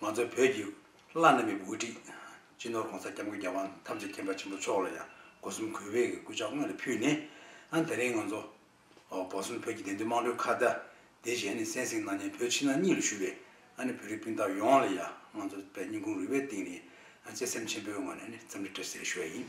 ང་ཚོ་བོད་ཀྱི་བླ་ན་མེད་པའི་དབུ་ཁྲིད། སྤྱི་ནོར་གོང་ས་སྐྱབས་མགོན་རྒྱལ་དབང་ཐམས་ཅད་མཁྱེན་པ་ཆེན་པོ་མཆོག་ལ་ཡང་སྒོ་གསུམ་གུས་པས་གུས་ཕྱག་སྔོན་ལ་ཕུལ་ནས། ད་རིང་ང་ཚོ་སྒོ་གསུམ་བོད་ཀྱི་བདེན་དོན་དམངས་ཁྲོད་ཁ་བརྡ་དེ་བཞེས་ནས་གསན་གཟིགས་གནང་ཉན་བོད་ཕྱི་ནང་གཉིས་ལ་ཞུ་བས། བོད་རིགས་སྤུན་ཟླ་ཡོངས་ལ་ཡང་ང་ཚོ་བསྙེན་ཁུངས་རུས་པའི་གཏིང་ནས་བརྩེ་སེམས་ཆེན་པོའི་ངོས་ནས་འཚམས་འདྲི་བཀྲ་ཟེར་ཞུ་བ་ཡིན།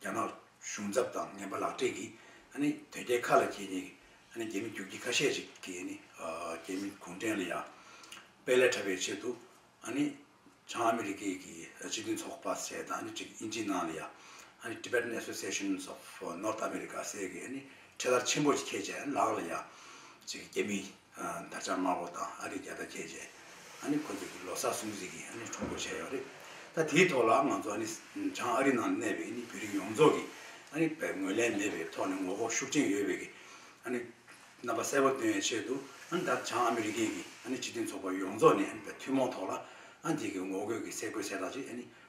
རྒྱ་ནག་གཞུང་ཚབ་དང་ངན་པ་ལག་སྤྲད་ཀྱིས་དོལ་རྒྱལ་ཁ་ལ་འཁྱེར་ནས་རྒྱ་མི་རྒྱུག་ཁྱི་ཁ་ཤས་ཤིག་གིས་རྒྱ་མི་གུང་ཁྲན་ལ་ཡང་དཔེ་ལས་འཁྲབ་པའི་ཆེད་དུ་བྱང་ཨ་མི་རི་ཀའི་སྤྱི་མཐུན་ཚོགས་པ་ཟས་དང་ཨིན་ཇིའི་ནང་ལ་ཡང Tibetan Associations of North America ཟས་ཀྱི་ཁྲལ་དར་ཆེན་པོ་ཁྱེད་ཅག་ལག་ལ་ཡང་རྒྱ་མི་ད་ཆ་དམར་པོ་དང་ཨ་རིས་རྒྱ་སྟག་ཁྱེར་རྗེས། ཨ་ནི་ཁོ་ཚོས་ཀྱི་ལོ་སར་སྲུང་བརྩི་གིས་ཨ་ནི་ཁྲོམ་སྐོར་བྱས་ཡོད་རེད། ད་དེའི་ཐོག་ལ་ང་ཚོ་ཨ་ནི་བྱང་ཨ་རི་ནང་གནས་པའི་ཨ་ནི་བོད་རིགས་ཡོངས་རྫོགས་ཀྱིས་ཨ་ནི་བས་ངོས་ལེན་མེད་པའི་ཐོག་ནས་ངོ་ལྐོག་ཤུགས་ཆེན་ཡོད་པའི་གི་ཨ་ནི་རྣམ་པ་གསལ་པོ་སྟོན་ཡའི་ཆེད་དུ་ཨ་ནི་ད་བྱང་ཨ་མི་རི་ཀའི་གི་ཨ་ནི་སྤྱི་མཐུན་ཚོགས་པ་ཡོངས་རྫོགས་ནས་ཨ་ནི་བས་ཐུན་མོང་ཐོག་ལ་ཨ་ནི་དེ་གི་ངོ་རྒོལ་གི་སེ་གོལ་ཚལ་དག་ཅིག་ཨ་ནི་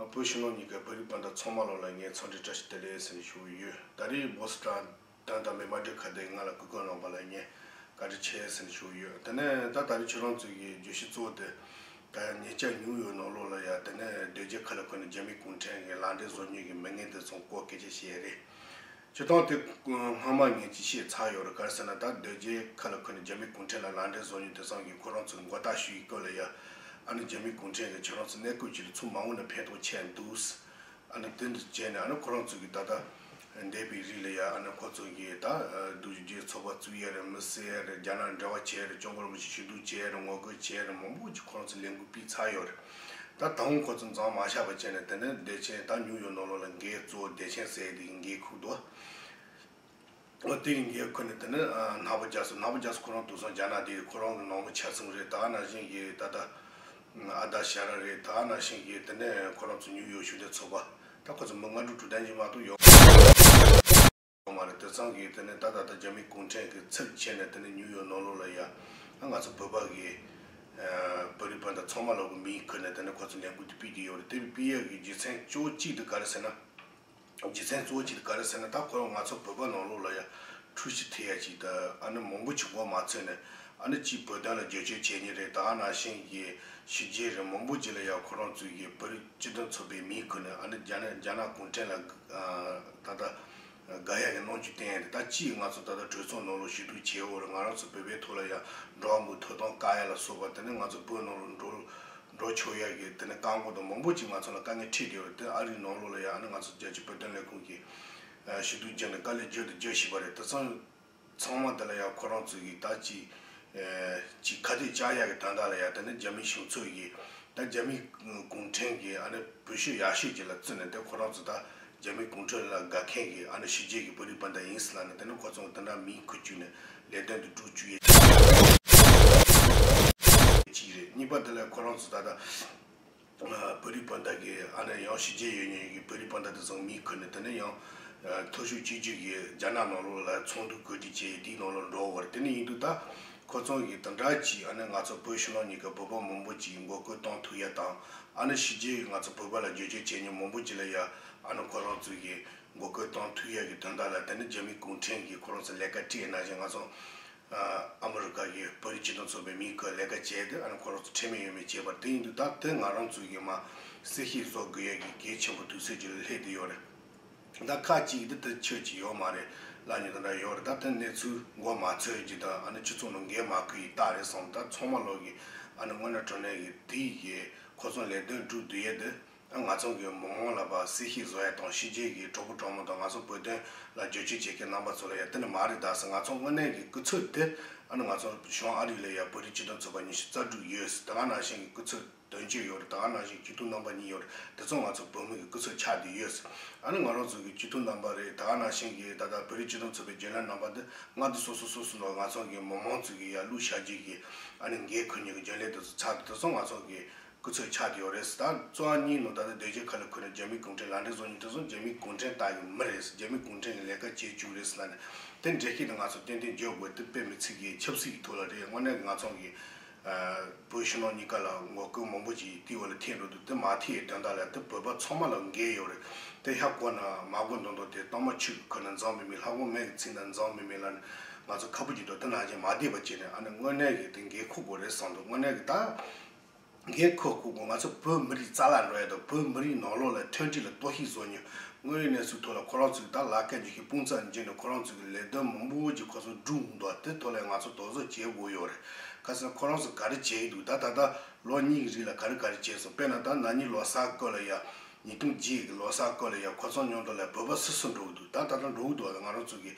ང་བོད་ཕྱི་ནང་གཉིས་ཀའི་བོད་རིགས་སྤུན་ཟླ་ཚང་མ་ལ་ལ་ངའི་འཚམས་འདྲི་བཀྲ་ཤིས་བདེ་ལེགས་ཟེར་ནས་ཞུ་གི་ཡོད་ད་རེས་སྦོ་ས་དྲ་དང་དྲ་མའི་མ་འབྲེལ་ཁ་དན་ང་ལ་གུས་བཀུར་གནང་པ་ལ་ངས་བཀའ་དྲིན་ཆེ་ཟེར་ནས་ཞུ་གི་ཡོད་དེ་ནས་ད་ད་རེས་ཁྱེད་རང་ཚོས་ཀྱི་བརྗོད་གཞི་གཙོ་བོ་དེ་ད་ཡང་ཉེས་ཆད་ཉུང་ཡོད་ནང་ལོགས་ལ་ཡ་དེ་ནས་སྡོད་རྗེས་ཁ་ལ་འཁོད་ནས་རྒྱ་མི་གུང་ཁྲན་གྱི་ལག་འབྲེལ་བཟོ་ཉོས་ཀྱི་མི་ངན་དེ་ཚོང་ལྐོག་སྐད་ཆ་བཤད་རེད་བྱེད་སྟངས་དེ་སྔ་མ་ངས་ཅི་བཤད་ཚར་ཡོད་རེད་ག་རེ་ཟེར་ན་ད་སྡོད་རྗེས་ཁ་ལ་འཁོད་ནས་རྒྱ་མི་གུང་ཁྲན་ལ་ལག་འབྲེལ་བཟོ་ཉུལ་དེ་བསམ་གི་ཁོ་རང་ཚོས་མགོ་བཏགས་ཞུ་ཡི་སྐོར་ལ་ཡ། ཨ་ནི་རྒྱ་མི་གུང་ཁྲན་གྱིས་ཁྱོད་རང་ཚོ་གནས་སྐོར་བྱེད་རིང་ཚོ་མང་བོ་ནས་ཕན་ཐོག་ཆད་འདུག། ཨ་ནི་དེ་འདྲ་བྱས་ནས་ཨ་ནི་ཁོ་རང་ཚོས་ཀྱི་ད་ལྟ་འདས་པའི་རིགས་ལ་ཡ་ཨ་ནི་ཁོ་ཚོ་གྱིས་ད་སྡོད་རྗེས་ཚོགས་པ་བཙུགས་ཡས་རེད་མི་གསལ་ཡས་རེད་རྒྱ་ནག་འབྲེལ་བ་བྱས་ཡས་རེད་གཅོང་སྐོར་མི་ཤི་ཞུ་གཏུག་བྱས་ཡས་རེད་ངོ་རྒོལ་བྱས་ཡས་རེད་མང་བོ་ཅིག་ཁོ་རང་ཚོས་ལས་འགུལ་སྤེལ་ཚར་ཡོད་རེད། ད་ད་འུ་ཁོ་ཚོ་མཛངས་མ་ཤར་བ་བྱས་ནས་དེ་འདྲའི་བདེ་ཆེན་ད་ཉུག་ཡོད་ནོ་ལོ་ལ་འགའི་གཙོ་བོ་བདེ་ཆེན་ཟེར་ཡི་དེ་གི་འགའི་ཁུག་ཏུ་ཨོ་དེ་གི་འགའི་ཁུག་ནས་དེ་འདྲའི་ནག་པོ་རྒྱག་སོང་ནག་པོ་རྒྱག་སོང་ཁོ་རང་དུག་སོང་རྒྱ་ནག་དེ་ཁོ་རང་གི་ནང་མི་ཆགས་སོང་རེད་ད་ཨ་ན་ཤིང་གི་ད་ད་ཨ་ད་ཤ་ར་རེད་ད་ཨ་ན་ཤིང་གི་དེ་འདྲའི་ཁོ་རང་ཚོ་ཉུག་ཡོད་ཤུག་དེ་ཚོགས་པ་ད་ཁོ་ཚོ་མི་ལྔ་དྲུག་དྲུག་ལྡན་གྱི་མ་གཏོགས་ཡོང། ཡོང་བ་རེད་དེ་ཚང་གིས་དེ་ནས་ད་ད་ལྟ་རྒྱ་མི་གུང་ཁྲན་གི་ཚིག་བྱས་ནས་དེ་ནས་ཉུག་ཡོད་ནོ་ལོ་ལ་ཡ། ང་ཚོ་བོད་པ་གི། བོད་རིགས་སྤུན་ཟླ་ཚང་མ་ལ་གུ་མིང་ཁུར་ནས་དེ་ནས་ཁོ་ཚོ་ལས་འགུལ་དེ་སྤེལ་གྱི་ཡོད་རེད་དེ་བས་སྤེལ་ཡག་གི་རྒྱུ་ཚན་གཅོ་བོ་གཅིག་དེ་ག་རེད་ཟེར་ན། རྒྱུ་ཚན་གཙོ་བོ་གཅིག་དེ་ག་རེད་ཟེར་ན་ད་ཁོ་རང་ང་ཚོ་བོད་པ་ནང་ལོ་ལ་ཡ། འཁྲུལ་གཞི་ཐེ་ཡག་གཅིག་དེ་ཨ་ནི་མང་པོ་ཆུ་འགོ་མ་ཚོས་ནས་ཨ་ནི་གཅིག་བོད་དོན་ལ་རྗོད་བྱོལ་བྱས་ཉེ་རེད་ད་ཨ་ན་ཤན་གི་གཞི་རྗེས་རེད་མང་པོ་གཅིག་ལ་ཡ་ཁོ་རང་ཚོའི་གི་བོད་རིགས། སྤྱི་དོན་ཚོགས་པའི་མིང་འཁུར་ནས་ཨ་འདི་རྒྱ་ནག་གུང་ཁྲན་ལ་ད་ལྟ་དགག་ཡ་གི་གནོང་འགྱོད་བསྟན་ཡ་རེད་ད་ཅིའི་ང་ཚོ་ད་ལྟ་གྲོས་ཚོགས་ནང་ལོགས་ཞི་དྲུག་བྱེད་འོག་རེད་ང་རང་ཚོ་བོད་པའི་ཐོག་ལ་ཡང་འགྲོ་བ་འགུག་ཐོ་གཏོང་དཀའ་ཡ་ལ་སོགས་པ་དེ་ནས་ང་ཚོ་བོད་ནང་ལོགས་འགྲོ་འགྲོ་ཆོག་ཡ་གི་དེ་ནས་བཀག་འགོག་དང་མང་པོ་ཅིག་ང་ཚོ་ལ་དཀའ་ངལ་འཕྲད་ཀྱི་རེད་དེ་ཨ་རིའི་ནང་ལོགས་ལ་ཡང་ཨ་ནི་ང་ཚོ་རྒྱལ་སྤྱི་བོད་དོན་ལས་ཁུངས་ཀྱིས་ཞུ་གཏུག་བརྒྱབ་ནས་དཀའ་ལས་རྒྱུན་དུ་རྒྱག་བཞིན་པ་རེད་དེ་ཚང་ཚང་མ་དེ་ལ་ཡང་ཁོ་རང་ཚོ་གིས་ད་ཅི། ཅིག་ཁ་གཏད་བཅག་ཡག་གི་ད་ལྟ་ལ་ཡང་དེ་ནི་རྒྱ་མིའི་གཞུང་ཚོགས་ཀྱིས། ད་རྒྱ་མིའི་གུང་ཁྲན་གྱིས་ཨ་ནི་བོད་ཤོད་ཡག་ཤོད་ཅིག་ལ་བརྩིས་ནས་དེ་ཁོ་རང་ཚོ་ད་རྒྱ་མིའི་གུང་ཁྲན་ལ་དགའ་མཁན་གྱི་ཨ་ནི་ཕྱི་རྒྱལ་གྱི་བོད་རིགས་པ་འདྲ་ཡིན་སྲིད་ལ་ནི་དེ་ནི་ཁོ་ཚོ་དེ་འདྲ་མིན་ཁུལ་བཅུག་ནས་ལས་དོན་དུ་བསྒྲུག་བཅུག་ཡས་ཅིག་རེད། གཅིག་རེད་གཉིས་པ་དེ་ལ་ཁོ་རང་ཚོ་ད་ད། བོད་རིགས་སྤུན་ཟླ་གིས་ཨ་རིར་ཡང་ཞི་རྒྱས་ཡོད་ཉེས་ཡོད་ཀྱི་བོད་རིགས་སྤུན་ཟླ་དེ་ཚོ་མིང་འཁུར་ནས་དེ་ནས་ཡང་ཐོ་ཤུགས་གཅིག་གྱུར་གྱིས་རྒྱ་ནག་ནང་ལོགས་ལ་ཚོགས་འདུ་གོ་སྒྲིག་བྱས་དེའི་ནང་ལོགས་འགྲོ་བར་དེ་ནས་ཡིན་འདུག་ད་ཁོ་ཚང་གིས་དང་དྲག་གྱིས་ཨ་ནི་ང་ཚོ་བོད་ཕྱི་ནང་གཉིས་ཀ་བོད་པ་མང་པོ་གྱིས་མགོ་སྐོར་བཏང་ཐུག་ཡ་དང་ཨ་ནི་ཞི་རྒྱས་ཀྱིས་ང་ཚོ་བོད་པ་ལ་བརྗོད་བྱའི་བྱས་ཉེས་མང་པོ་བགྱིས་ལ་ཡ་ཨ་ནི་ཁོ་རང་ཚོ་གིས་མགོ་སྐོར་བཏང་ཐུག་ཡ་གྱི་དོན་དག་ལ་དེ་ནི་རྒྱ་མི་གུང་ཁྲན་གྱིས་ཁོ་རང་ཚོ་ལས་ཀ་བཀྲིས་ཨེ་གནང་བཞིན་ང་ཚོ་ཨ་མ་རུ་ཀ་ཡིས་བོད་ཀྱི་སྤྱི་དོན་རྩོད་པའི་མིས་བཀོད་ལས་ཀ་བྱས་ཏེ་ཨ་ནེ་ཁོ་རང་ཚོ་ཁྲེལ་མེད་ཡོད་མེད་བྱས་པར་དེ་ཡིན་དུས་ད་དེ་ང་རང་ཚོའི་གིས་མ་སེར་ཤེས་བཟོ་དགོས་ཡས་ཀྱི་གལ་ཆེན་པོ་དུས་ཚོད་ཀྱི་ལྷད་དེ་ཡོད་རེད་ད་ཁ་ཅིག་གིས་དེ་ཆོས་ཀྱི་ཡོད་མ་རེད་ལབ་ཉེ་དང་འདྲ་ཡོད་རེད་ད་དེ་གནས་ཚུལ་མགོ་མ་ཚོས་ཀྱིས་ད་ཨ་ནེ་ཁྱི་ཚོ་ནོ་འགལ་མ་ཁུ་ཡིས་རྟགས་རེད་བསམ་ད་ཚོང་མ་ལོག་གིས་ཨ་ནེ་སྔོན་ན་གྲོ་ནས་གིས་དེ་ཡི་གིས་ཁོ་ཚོ་ལས་དོན་བསྒྲུབ་དུས་ཡས་དེ། ང་ཚོ་གི་མོ་མོ་ལ་བ་སི་ཤིག་བཟོ་ཡ་དང་ཤི་རྗེས་ཀྱི་གྲོགས་པོ་གྲོགས་མོ་དང་ང་ཚོ་བོད་དོན་ལ་རྗོད་བྱེད་བྱེད་མཁན་རྣམ་པ་ཚོ་རེད་དེ་ནི་མ་རེད་ད་ཟེར་ང་ཚོ་དངོས་གནས་ཀྱི་སྐུ་ཚོད་དེ་ཨ་ནི་ང་ཚོ་གཞུང་ཨ་རི་ལས་ཡ་བོད་རིགས་སྤྱི་མཐུན་ཚོགས་པ་ཉི་ཤུ་རྩ་དྲུག་ཡོད་ཟེར་ད་ག་ནང་བཞིན་གྱི་སྐུ་ཚོད་དོན་གཅོད་ཡོད་རེད་ད་ག་ནང་བཞིན་སྐྱིད་སྡུག་རྣམ་པ་གཉིས་ཡོད་རེད་དེ་ཚོ་ང་ཚོ་བོད་མི་གི་སྐུ་ཚོད་ཆགས་དེ་ཡོད་ཟེར་ཨ་ནི་ང་རང་ཚོ་གི་སྐྱིད་སྡུག་རྣམ་པ་རེད་ད་ག་ནང་བཞིན་གྱི་ད་ལྟ་བོད་རིགས་སྤྱི་མཐུན་ཚོགས་པའི་རྒྱུན་ལས་རྣམ་པ་འདི་ང་འདི་སོ་སོ་སོ་སོ་ནང་ང་ཚོ་གི་མོ་མོ་ཚོ་གི་ཡ་བླུགས་བཞག་རྗེས་ཀྱི་ཨ་ནི་འགའི་གུས་ཉིད་ཀྱི་རྒྱུན་ལས་དེ་ཚོ་ཚགས་དེ་དེ་ཚོ་ང་ཚོ་གི་སྐུ་ཚེ་ཆགས་ཀྱི་ཡོད་རེད་ཟེར་ད་གཙོ་བ་གཉིས་ནོ་ད་ནི་སྡོད་རྗེས་ཁ་ལ་ཁུར་ནས་རྒྱ་མི་གུང་ཁྲན་ལ་འདྲེ་ཟོ་ཉིན་ཁྲི་ཟོ་རྒྱ་མི་གུང་ཁྲན་ད་ཡོང་མི་རེད་ཟེར་རྒྱ་མི་གུང་ཁྲན་གྱི་ལས་ཀ་བྱེད་བཅུག་རེད་ཟེར་ན་ནི་དེ་འདྲེ་ཤེས་ཏེ་ང་ཚོ་ཏན་ཏན་འཇོག་དགོས་དེ་དཔེ་མི་ཚིག་གིས་ཆབ་སྲིད་ཀྱི་ཐུགས་ལ་རེད་དངོས་གནས་ང་ཚོང་གི་བོད་ཕྱི་ནང་གཉིས་ཀ་ལ་ངོ་རྒོལ་མང་པོ་ཅིག་ཏི་ཝེ་ལ་ཐེག་འགྲོ་འདུག་དེ་མ་ཐེག་ཡས་དོན་དག་ལ་དེ་བོད་པ་ཚང་མ་ལ་འགལ་ཡོད་རེད་དེ་ཧ་གོ་ན་མ་གོ་མདོག་མདོག་དེ་གཏོར་མ་ཆུ་གིས་ཁུར་ན་འཛག་མི་མིན་ལྷ་གོང་མས་ཀྱི་ཚིག་འདི་འཛག་མི་མིན་ལ་ནི་ང་ཚོ་ཁ་ཕོ་གྱི་འགྲོ་དེ་ནང་བཞིན་མ་བསྡད་པ་བྱས་ནས་ཨ་ནི་དངོས་གནས་ཀྱི་དེ་འགལ་ཁུག་དགོས་རེད་བསམ་འདུག་དངོས་གནས་ཀྱི་ད། གིས་ཁོ་བཀུག་གོང་ང་ཚོ་བོད་མི་རིགས་རྩ་ལག་འགྲོ་ཡ་དང་བོད་མི་རིགས་ནང་ལོག་ལ་མཐུན་སྒྲིལ་ལ་གཏོར་ཤིག་བཟོ་ཉོ། དངོས་ཡོད་གནས་ཚུལ་ཐོག་ལ་ཁོ་རང་ཚོས་དང་ལག་ཁྱེར་འཇུ་ཤེས་དཔུང་རྩག་འཇིགས་ནས་ཁོ་རང་ཚོས་ཀྱི་ལས་དོན་མང་པོ་ཅིག་ཁོ་ཚོ་བསྒྲུབ་འདུག་ད་དེ་ཐོག་ལ་ཡང་ང་ཚོ་དོགས་བཟོ་བྱེད་དགོས་ཡོད་རེད། ཁ་སང་ཁོ་རང་ཚོ་ག་རེ་བྱས་ཡི་འདུག་ད་ད་ལྟ་ལོ་གཉིས་ཀྱི་རིང་ལ་ག་རེ་ག་རེ་བྱས་སོང་དཔེར་ན་ད་ནག་ཉིས་ལོ་གསར་བསྐོས་ལ་ཡ། ཉིས་སྟོང་བརྒྱད་གི་ལོ་སར་སྐོར་ལས་ཀྱང་གོ་ཚོང་ཉོ་འདོད་ལས་བོད་པ་སུ་སུ་འགྲོ་གི་འདུག་ད་ད་དུང་འགྲོ་གི་འདུག་ང་རང་ཚོ་གི་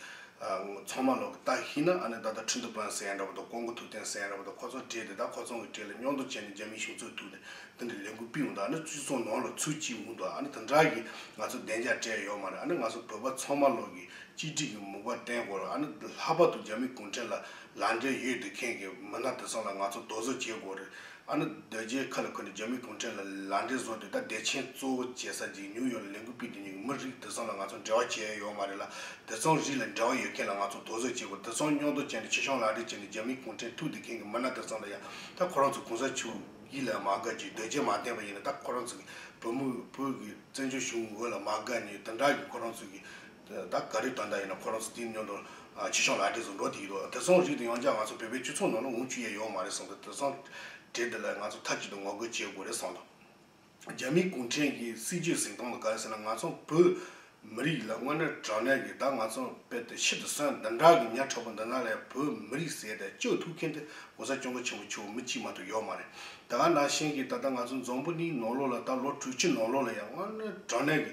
ཚོང་མ་ལོག་གི་རྟགས་ཤིག་ཡིན་ན་ཨ་ནི་ད་ད་ཁྲི་འདུ་པན་ཟེར་ཡ་འདྲ་བ་དང་ཀོང་གོ་ཐུབ་བསྟན་ཟེར་ཡ་འདྲ་བ་དང་ཁོ་ཚོ་བྲེལ་ཏེ་ད་ཁོ་ཚོང་གི་གྲས་ལ་སྙོག་འདོགས་བྱས་ནས་རྒྱ་མིའི་གཞུང་ཚོགས་ཐུག་ནས་དེ་འདྲ་ལས་འགུལ་སྤེལ་འོང་དང་ཨ་ནི་བཙུད་ཚོང་ནོར་ལ་ཚུར་བསྐྱིལ་འོང་དང་ཨ་ནི་དེ་འདྲ་གི་ང་ཚོ་བདེ་འཇགས་བྲལ་ཡོད་མ་རེད་ཨ་ནི་ང་ཚོ་བོད་པ་ཚོང་མ་ལོག་གི་གཅིག་སྒྲིལ་གྱི་མུག་པ་བསྟན་དགོས་རེད་ཨ་ནི་ལྷག་པར་དུ་རྒྱ་མི་གུང་ཁྲན་ལ་ལ་འབྲེལ་ཡོད་འདི་མཁན་གི་མི་སྣ་དེ་ཚོང་ལ་ང་ཚོ་རྡོག་བཟོ་བྱེད་དགོས་རེད་ཨ་ནུ་རྡོ་རྗེའི་ཁ་ལ་འཁོད་ནས་རྒྱ་མིའི་གུང་ཁྲན་ལ་ལ་འབྲས་བཟོ་དུས་ད་བདེ་ཆེན་གཙོ་བོ་བྱེད་ས་ཅིག་ཉུག་ཡོག་ལ་ལས་འགུལ་སྤེལ་དུས་ཉུག་གི་མི་རིགས་དེ་ཚོ་ལ་ང་ཚོ་འབྲེལ་བ་བྱས་ཡོག་མ་རེད་ལ་དེ་ཚོང་རིགས་ལ་འབྲེལ་བ་ཡོད་མཁན་ལ་ང་ཚོ་དོགས་ཟོན་བྱེད་དགོས་དེ་ཚོང་རྙོག་དོ་བཅད་ནས་ཕྱི་ཤོང་ལ་འབྲས་བྱེད་ནས་རྒྱ་མིའི་གུང་ཁྲན་ཐུགས་འདི་མཁན་གི་མི་སྣ་དེ་ཚོང་ལ་ཡང་ད་ཁོ་རང་ཚོ་གུང་ས་ཆུ་ཡིད་ལ་མ་དགའ་ཅིག་རྡོ་རྗེ་མ་བསྟན་པ་ཡིན་ན་ད་ཁོ་རང་ཚོ་གི་བུ་མོ་བུ་གི་བཙན་བྱོལ་གཞུང་ངོ་ལ་མ་དགའ་ཉུག་དེ་འདྲ་གི་ཁོ་རང་ཚོ་གི་ད་ག་རེ་དོན་དག་ཡིན་ན་ཁོ་རང་ཚོ་དེའི་སྙོན་དུ་ཕྱི་ཤོང་ལག་འབྲེལ་ཟུང་འགྲོག་དེ་ཡིན་འདུག་དེ་སོང་རིགས་དེ་ཡོང་རྒྱ་ང་ཚོ་བོད་པའི་སྤྱི་ཚོགས་ནང་ལ་འུ་ཅུ་ཡས་ཡོང་མ་རེད་གསུངས་ཏེ་དེ་སོང་གྲས་དེ་ལ་ང་ཚོ་མཐའ་གཅིག་ཏུ་ངོ་རྒོལ་བྱེད་དགོས་རེད་གསུངས་འདུག་རྒྱ་མི་གུང་ཁྲན་གྱི་སྲིད་ཇུས་གཟིགས་སྟངས་ལ་ག་རེ་ཟེར་ན་ང་ཚོ་བོད་མི་རིགས་ལ་དངོས་གནས་དྲང་གནས་ཀྱི་ད་ང་ཚོ་དཔེ་དེ་ཕྱི་དུ་སོན་འདི་འདྲ་གི་ཉག་ཕྲ་པོ་འདི་ན་ལས་བོད་མི་རིགས་ཟེར་ཏེ་སྤྱོད་ཐུབ་མཁན་དེ་གོ་ས་གྱོང་གུན་ཆེན་པོ་ཆུ་མི་གཅིག་མ་གཏོགས་ཡོད་མ་རེད་ད་ང་ནང་བཞིན་གྱི་ད་ལྟ་ང་ཚོ་འཛོམས་པོ་གཉིས་ནོར་ལོག་ལ་ད་ལོ་དྲུག་ཅུ་ནོར་ལོག་ལ་ཡང་དངོས་གནས་དྲང་གནས་ཀྱི་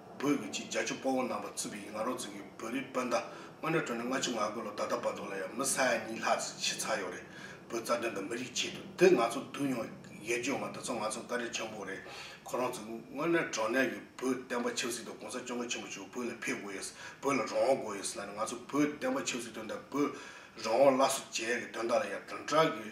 བོད་ཀྱི་ཅིག་རྒྱ་ཆུ་སྤོ་བོ་ནང་པ་རྩིས་པའི་ང་རོ་རྩིས་ཀྱི་བོད་རིགས་སྤོན་ཟླ་དངོས་གྲོས་གྲོལ་ནས་སྔ་ཕྱི་ང་དགོས་ལོ་ད་ལྟ་བར་དུ་ལ་ཡང་མི་ས་ཡ་གཉིས་ལྷག་རྩིས་བྱས་ཚར་ཡོད་རེད་བོད་རྩ་དོན་དང་མི་རིགས་ཆེད་དུ་འདི་ང་ཚོ་བསྡུ་མྱོང་ཡས་བརྗོད་མ་འདི་ཚོ་ང་ཚོ་འགའ་རེ་ཆེན་པོ་རེད་ཁོ་རང་ཚོ་དངོས་གནས་དྲང་གནས་ཀྱི་བོད་བསྟན་པ་ཆབ་སྲིད་དང་གོང་ས་སྐྱོང་མཁན་ཆེན་པོ་ཆུ་བོད་ལ་ཕེབས་དགོས་ཡས་བོད་ལ་རང་དབང་དགོས་ཡས་ལ་ནས་ང་ཚོ་བོད་བསྟན་པ་ཆབ་སྲིད་དོན་དང་བོད་རང་དབང་སླར་གསོ་བྱེད་ཡས་ཀྱི་དོན་དག་ལ་ཡང་དྲང་དྲག་གི།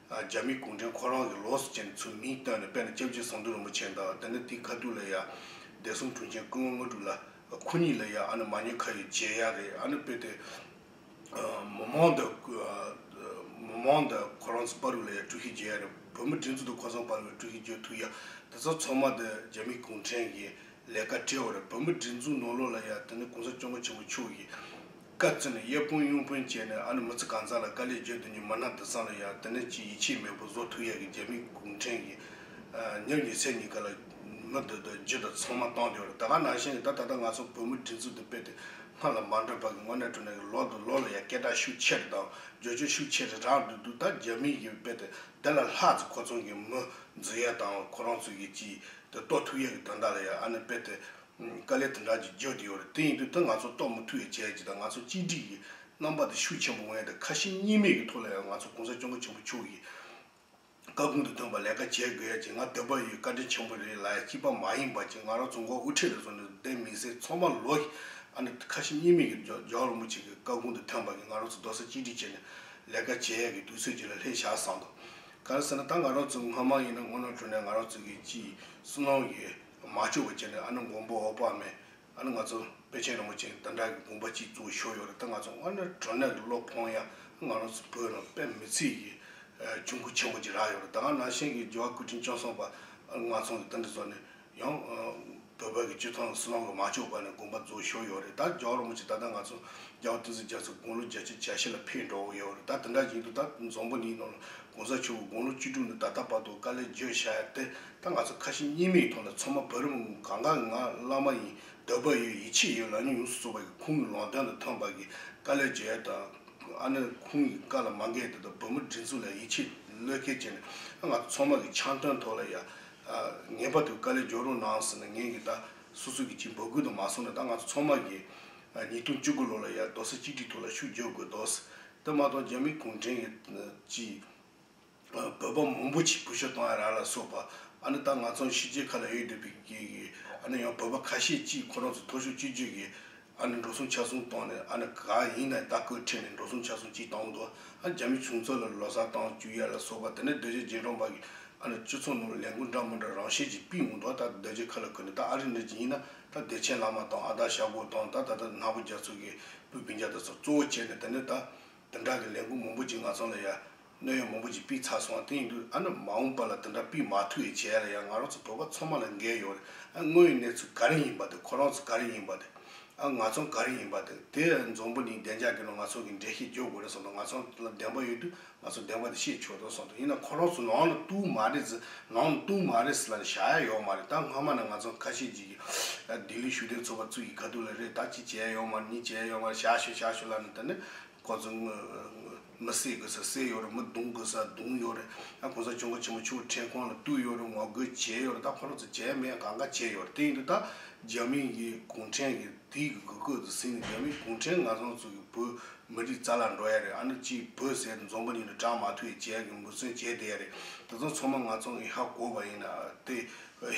རྒྱ་མི་གུང་ཁྲན་ཁོ་རང་གི་ལོགས་སུ་བྱས་ནས་ཚུར་མིང་བཏོན་ནས་དཔལ་ནི་སྐྱབས་རྗེ་ཟངས་མདུད་རིན་པོ་ཆེ་དང་དེ་ནས་དེའི་ཁ་ཐུག་ལ་ཡང་སྡེ་གསུམ་དྲུང་ཆེན་སྐུ་ངོ་དངོས་གྲུབ་ལ་ཁོ་གཉིས་ལ་ཡང་ཨ་ནི་མ་ཉོན་ཁ་ཡོད་རྗེས་ཡང་རེད་ཨ་ནི་དཔེ་དེ་མོ་མང་དང་མོ་མང་དང་ཁོ་རང་ཚོ་དཔའ་རུ་ལ་ཡང་དཀྲུག་ཤིང་རྗེས་ཡང་རེད་བོད་མི་དྲིན་ཚུལ་དང་ཁོ་ཚང་དཔའ་རུ་ལ་དཀྲུག་ཤིང་རྗེས་ཐུག་ཡང་དེ་ཚོ་ཚང་མ་དེ་རྒྱ་མི་གུང་ཁྲན་གྱི་ལས་ཀ་སྤྲེའུ་རེད་བོད་མི་དྲིན་ཚུལ་ནོར་ལོག་ལ་ཡང་དེ་ནི་གུང་ས་སྐྱོང་མཁན་ཆེན་པོ་མཆོག་གིས་བཀའ་བཙུན་གཡས་དཔུང་གཡོན་དཔུང་བཅས་ནས་ཨ་ནུ་མུ་ཙི་གང་ཟག་ལ་བཀའ་ལས་བརྗོད་དུ་ཉི་མ་སྣ་བདུན་བསམ་ལ་ཡང་དེ་ནས་ཅི་ཡི་ཕྱིར་མེས་པོ་བཟོ་ཐུགས་ཡས་ཀྱི་རྒྱལ་མི་གུང་ཁྲན་གྱི་ཉག་ཉིས་ཚེ་གཉིས་ཀ་ལ་མི་འདོད་དུ་རྒྱུད་དང་ཚང་མ་བཏང་འདིའོ་ད་ག་ནང་བཞིན་གྱི་ད་ད་ད་ང་ཚོ་བོད་མི་དྲིན་ཚུལ་དུ་སྤེལ་ཏེ་སྔར་ལ་མ་འདྲ་བར་གྱི་དངོས་གནས་དྲུང་ནས་ཀྱི་ལོག་ཏུ་ལོག་ལ་ཡང་སྐད་གྲགས་ཤུགས་ཆེ་རེ་དང་རྗོད་བྱེད་ཤུགས་ཆེ་རེ་རག་འདོད་འདུག་ད་རྒྱ་མི་ཡིས་སྤེལ་ཏེ་དེ་ལ་ལྷག་ཙི་ཁོ་ཚང་གི་མི་འཛི་ཡས་དང་ཁོ་རང་ཚོས་ཀྱི་ཅི་དེ་ལྟོ་ཐུགས་ཡས་ཀྱི་དོན་དག་ལ་ཡང་ཨ་ནི་སྤེལ་ཏེ་དཀའ་ལས་དེ་འདྲ་ཅིག་བརྗོད་དེ་ཡོད་རེད་དེ་ཡིན་དུས་ད་ང་ཚོ་རྟོགས་མི་ཐུབ་ཡ་བྱས་ཀྱི་ད་ང་ཚོ་གཅིག་སྒྲིག་གི་རྣམ་པ་དེ་ཤུགས་ཆེན་པོ་མངའ་ཏེ་ཁ་ཞེ་གཉིས་མེད་ཀྱི་ཐོག་ལ་ཡང་ང་ཚོ་གོང་ས་སྐྱོང་མཁའ་ཆེན་པོ་མཆོག་གིས་བཀའ་དགོངས་དེ་འདོན་པ་ལས་ཀ་བྱེད་དགོས་ཡ་བྱས་ང་འདོད་པ་ཡོད་བཀའ་དྲིན་ཆེན་པོ་རེད་ལ་ཡ་སྐྱིད་པ་མ་ཡིན་པ་བྱས་ང་རང་རྫོང་མཁོ་དབུ་ཁྲིད་ལ་སོང་ནས་བསྡད་མི་ཟེར་ཚོགས་མ་ལོག་གིས་ཨ་ནི་ཁ་ཞེ་གཉིས་མེད་ཀྱི་འཇོག་འཇོག་རིན་པོ་ཆེ་གི་བཀའ་དགོངས་དེ་འཐོན་པ་གིས་ང་རང་ཚོ་རྡོ་ས་གཅིག་སྒྲིག་བྱས་ནས་ལས་ཀ་བྱས་ཡ་གི་དུས་ཚོད་ཅིག་ལ་སླེབས་ཤག་བསམ་འདུག་ག་རེ་ཟེར་ན་ད་ང་རང་ཚོ་སྔ་མ་ཡིན་ན་སྔོ་ནག་གྲོལ་ནས་ང་རང་ཚོ་གིས་ཅིས་སུ་གནང་གི་མ་བཅོས་པ་བྱས་ནས་ཨ་ནུ་མགོན་པོ་འོག་པགས་མས་ཨ་ནུ་ང་ཚོ་དཔལ་ཆེན་རིན་པོ་ཆེ་དང་འདྲ་གི་དགོན་པ་གཅིག་བཙུགས་ཤོར་ཡོད་རེད་ད་ང་ཚོ་སྔ་ན་དྲོ་གནས་ལ་ལོག་ཕོང་ཡང་ང་རང་ཚོ་བོད་རང་དཔལ་མི་ཚིག་གི་ཆུ་འགོ་ཆེན་པོ་གཅིག་རག་ཡོད་རེད་ད་ནང་བཞིན་གྱི་རྒྱལ་བ་ཀུན་ཁྲིམས་སྐྱོང་སོང་པ་ང་ཚོང་གི་ཏང་གི་བཟོ་ནས་ཡང་བོད་པ་གི་སྤྱི་ཚོགས་ནང་སྲིད་བློན་གི་མ་བཅོས་པ་ནས་དགོན་པ་བཙུགས་ཤོར་ཡོད་རེད་ད་རྒྱལ་བ་རིན་པོ་ཆེ་ད་ལྟ་ང་ཚོ་རྒྱལ་བ་ཏིང་འཛིན་རྒྱལ་མཚོ་དགུང་ལོ་བརྒྱད་ཅུ་གྱ་བཞི་ལ་ཕེབས་འགྲོ་འོ་ཡོད་རེད་ད་དེ་འདྲ་ཡིན་དུས་ད་རྫོང་པོ་གཉིས་ནང་ལ་གོང་ས་མཆོག་གི་དགུང་ལོ་བཅུ་དྲུག་ནས་ད་ལྟ་བར་དུ་བཀའ་ལས་བརྗོད་བྱ་ཡ་དེ་ད་ང་ཚོ་ཁ་ཞེ་གཉིས་མེད་ཀྱི་ཐོག་ནས་ཚང་མ་བར་རིམ་ངང་གང་དགའ་ང་བླ་མ་ཡིན་འདོད་པ་ཡོད་ཡིད་ཆེས་ཡོད་ལག་གཉིས་ཡོངས་སུ་རྫོགས་པ་ཡི་ཁུངས་ཀྱི་ལོང་སྟོན་དང་ཐོན་འབར་གྱི་བཀའ་ལས་འཇལ་ཡས་དང། ཨ་ནེ་ཁུངས་ཀྱི་བཀའ་ལ་མ་འགལ་དེ་དང་བུ་མོ་སྒྲིག་འཛུགས་ལ་ཡིད་ཆེས་བློས་འཁེལ་བྱས་ནས་ང་ཚོ་ཚང་མ་གི་འཆམ་མཐུན་ཐོག་ལ་ཡ་ངས་བར་དུ་བཀའ་ལས་འཇོག་རོགས་གནང་ཟེར་ནས་ངས་ཀྱི་ད་སོ་སོ་གྱི་ཅིག་འབོད་སྐུལ་དང་མ་སོང་ནས་ད་ང་ཚོ་ཚང་མ་གི་ཉིས་སྟོང་བཅུ་དགུ་ལོ་ལ་ཡ་རྡོ་ས་གཅིག་སྒྲིག་ཐོག་ལ་ཤུགས་རྒྱོབ་དགོས་རྡོ་ས་དེ་མ་གཏོགས་རྒྱ་མི་གུང་བྲན་གྱི་ཅིག། བོད་པ་མང་པོ་ཆེ་བུ་ཤོ་དང་ཨ་ར་ལ་སོགས་པ་ཨ་ནི་ད་ང་ཚོ་གཞིས་བྱེས་ཁ་ལ་ཡོད་འདོད་པའི་གི་གི་ཨ་ནི་ཡང་བོད་པ་ཁ་ཤས་ཀྱིས་ཁོ་རང་ཚོ་ཐོ་ཤོ་ཅི་བརྗོད་གི་ཨ་ནི་འགྲོ་སོང་ཆ་སོང་བཏང་ནས་ཨ་ནི་ག་ཡིན་ན་ད་ཁོས་ཁྲིད་ནས་འགྲོ་སོང་ཆ་སོང་ཅི་བཏང་འདུག་ཨ་རྒྱ་མི་ཆུང་ཚོ་ལ་ལོ་སར་བཏང་བཅུག་ཡ་ལ་སོགས་པ་དེ་ནས་རྡོ་རྗེ་རྗེ་འབྲང་པ་གི་ཨ་ནི་སྤྱི་ཚོགས་ནང་ལ་ལས་འགུལ་འདྲ་མི་འདྲ་རང་བཞིན་གྱིས་སྤེལ་འོང་འདུག་ད་རྡོ་རྗེ་ཁ་ལ་ཁུར་ནས་ད་ཨ་རི་འདྲ་ཅི་ཡིན་ན་ད་བདེ་ཆེན་བླ་མ་དང་ཨ་ད་ཞྭ་གོ་དང་ད་ད་ད་ནག་པོ་རྒྱ་མཚོ་གི་སྤུས་བིན་རྒྱ་ད་སོགས་གཙོ་བོ་བྱས་ནས་དེ་ནས་ད་དེ་འདྲ་གི་ལས་འགུལ་མང་པོ་ཅིག་ང་ཚང་ལ་ཡ་སྣོད་ཡོད་མང་པོ་ཅིག་སྤིས་ཚར་སོང་བ་དེ་ཡིན་དུས་ཨ་ནུ་མ་འོངས་པ་ལ་དེ་འདྲ་སྤིས་མ་ཐུག་ཡས་བྱས་ལ་ཡང་ང་རང་ཚོ་བོད་པ་ཚང་མ་ལ་འགན་ཡོད་རེད་ཨ་དངོས་ཡོད་གནས་ཚུལ་ག་རིང་ཡིན་པ་དེ་ཁོ་རང་ཚོ་ག་རིང་ཡིན་པ་དེ་ཨ་ང་ཚོ་ག་རིང་ཡིན་པ་དེ་དེ་འཛོམས་པོ་ནི་བདེ་འཇགས་ཀྱི་ནང་ང་ཚོ་གི་འགྲེལ་བཤད་བརྗོད་དགོས་རེད་སོང་དུ་ང་ཚོ་ལ་བདེན་པ་ཡོད་དུས་ང་ཚོ་བདེན་པ་དེ་བཤད་ཆོག་དོན་སོང་དུ་ཡིན་ན་ཁོ་རང་ཚོ་ནང་ལ་ལྟུང་མ་རེད་ཟེར་ནང་ལ་ལྟུང་མ་རེད་ཟེར་ལ་བཞག་ཡ་ཡོད་མ་རེད་ད་སྔ་མ་ནས་ང་ཚོ་ཁ་ཤས་ཅིག་གིས་ལྡི་ལི་ཞུ་དན་ཚོ་བ་ཚུད་ཀྱི་ག་དུས་ལ་རེད་ད་ཅིག་བྱས་ཡ་ཡོད་མ་རེད་གཉིས་བྱས་ཡ་ཡོད་མ་རེད་བཞག་ཞོད་བཞག་ཞོད་ལ་ནི་ད་ནི་ཁོ་ཚོ་མི་བསད་དགོས་ས་བསད་ཡོད་རེད་མི་རྡུང་དགོས་ས་རྡུང་ཡོད་རེད་ད་གོང་ས་མཆོག་མགོ་ཆེན་མོ་ཆུ་བོ་ཁྲེས་ཁོང་ལ་བཏུལ་ཡོད་རེད་ངོ་རྒོལ་བྱས་ཡོད་རེད་ད་ཁོ་རང་ཚོ་བྱས་མེད་གང་ག་བྱས་ཡོད་རེད་དེ་ཡིན་དུས་ད་རྒྱ་མི་ཡིས་གུང་ཁྲན་གྱི་དུས་ཀྱི་དགོས་གོས་དུ་ཟིན་ནས་རྒྱ་མི་གུང་ཁྲན་ནག་བཟང་ཚོ་གི་བོད་མི་རིགས་རྩ་ལག་འགྲོ་ཡ་རེད་ཨ་ནུ་ཅིས་བོད་ཟས་དེ་འཛོམས་པ་ཉིན་རེ་གྲངས་མ་ཐུ་ཡི་བྱས་གི་འབུ་སྲུན་བྱས་བསྡད་ཡ་རེད་དེ་ཚོ་ཚང་མ་ནག་ཚོང་གི་ཧ་གོ་བ་ཡིན་ན་དེ་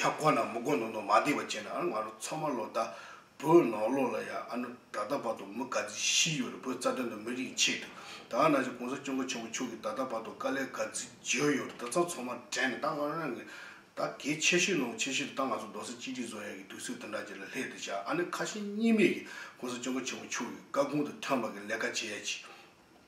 ཧ་གོ་ན་མི་གོ་མདོག་མདོག་མ་བསྡད་པ་བྱས་ན་ཨ་ར་ང་རང་ཚང་མ་ལོ་ཟླ་བོད་ནང་ལོགས་ལ་ཡང་ཨ་ནུ་ད་ལྟ་བར་དུ་མི་ག་ཚིལ་ཤི་ཡོད་རེད་བོད་རྩ་དོན་དང་མི་རིགས་ཀྱི་ཆེད་དུ་ད་ནང་བཞིན་གོང་ས་སྐྱོང་མཁན་ཆེན་པོ་མཆོག་གིས་ད་ལྟ་བར་དུ་དཀའ་ལས་ག་ཚིལ་བརྗོད་ཡོད་རེད་དེ་ཚོ་ཚང་མ་དྲན་ནས་ད་ང་རང་གིས་ད་གལ་ཆེ་ཤོས་ནང་གི་ཆེ་ཤོས་དེ་ད་ང་ཚོ་རྡོ་སེར་གཅིག་སྒྲིལ་བཟོ་ཡག་གི་དུས་ཚོད་དེ་འདྲ་ཅིག་ལ་སླེབས་འདུག་བྱ་ཨ་ནི་ཁ་ཞེ་གཉིས་མེད་ཀྱིས་གོང་ས་སྐྱོང་མཁན་ཆེན་པོ་མཆོག་གི་བཀའ་དགོངས་དེ་ཐོན་པ་གི་ལས་ཀ་བྱེད་ཡག་ཅིག